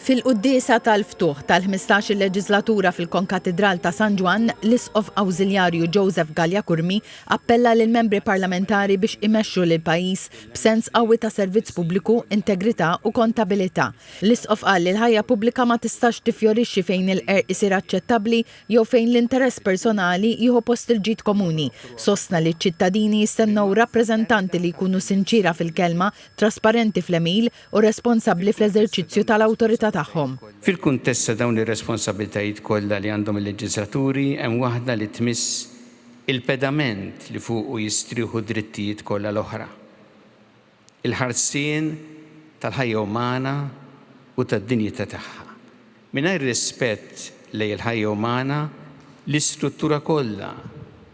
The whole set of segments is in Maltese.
Fil-Quddiesa tal-Ftuħ tal-ħmistax-il leġislatura fil-Konkatidral ta' San Ġwann, l-Isqof Awżiljarju Joseph Galea Curmi appella lill-Membri Parlamentari biex imexxu lill-pajjiż b'sens qawwi ta' servizz pubbliku, integrità u kontabilità. L-Isqof qal li l-ħajja pubblika ma tistax tiffjorixxi fejn il-qerq isir aċċettabbli jew fejn l-interess personali jieħu post il-ġid komuni. Sostna li ċ-ċittadini jistennew rappreżentanti li jkunu sinċiera fil-kelma, trasparenti fl-għemil, u responsabbli fl-eżerċizzju tal-awtorità tagħhom. Fil-kuntest ta' dawn ir-responsabbiltajiet kollha li għandhom il-leġiżlaturi, hemm waħda li tmiss il-pedament li fuqu jistrieħu d-drittijiet kollha l-oħra, il-ħarsien tal-ħajja umana u tad-dinjità tagħha. Mingħajr rispett lejn il-ħajja umana, l-istruttura kollha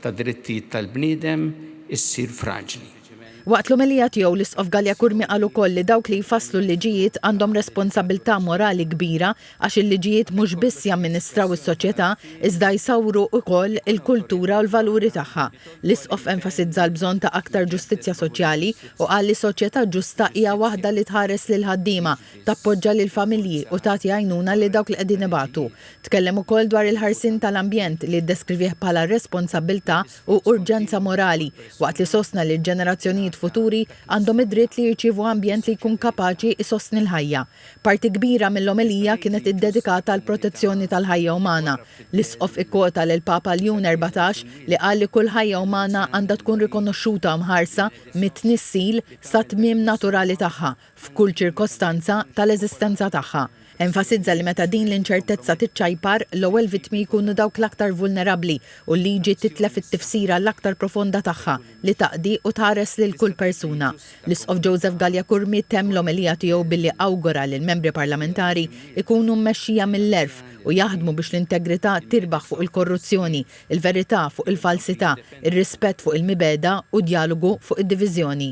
tad-drittijiet tal-bniedem issir fraġli. Waqt l-omelija tiegħu, l-Isqof Galea-Curmi qal ukoll li dawk li jfasslu l-liġijiet għandhom responsabbiltà morali kbira għax il-liġijiet mhux biss jamministraw is-soċjetà iżda jsawru ukoll il-kultura u l-valuri tagħha. L-Isqof enfasizza l-bżonn ta' aktar ġustizzja soċjali u qal li soċjetà ġusta hija waħda li tħares lill-ħaddiema, tappoġġa lill-familji u tagħti għajnuna lil dawk li qegħdin ibatu. Tkellem ukoll dwar il-ħarsien tal-ambjent li ddeskrivih bħala responsabbiltà u urġenza morali, waqt li sostna li l-ġenerazzjonijiet futuri għandhom id-dritt li jirċievu ambjent li jkun kapaċi jsostni l-ħajja. Parti kbira mill-omelija kienet iddedikata għall-protezzjoni tal-ħajja umana. L-Isqof ikkwota lill-Papa Ljun Erbatax li qal li kull ħajja umana għandha tkun rikonoxxuta u mħarsa mit-tnissil sat-tmiem naturali tagħha, f'kull ċirkostanza, tal-eżistenza tagħha. Enfasizza li meta din l-inċertezza tiċċajpar, l-ewwel vittmi jkunu dawk l-aktar vulnerabbli u l-liġi titlef it-tifsira l-aktar profonda tagħha li taqdi u tħares lil kull persuna. L-Isqof Joseph Galea Curmi temm l-omelija tiegħu billi awgura li l-membri parlamentari jkunu mmexxija mill-għerf u jaħdmu biex l-integrità tirbaħ fuq il-korruzzjoni il-verità fuq il-falsità, ir-rispett fuq il-mibegħda u djalogu fuq id-diviżjoni.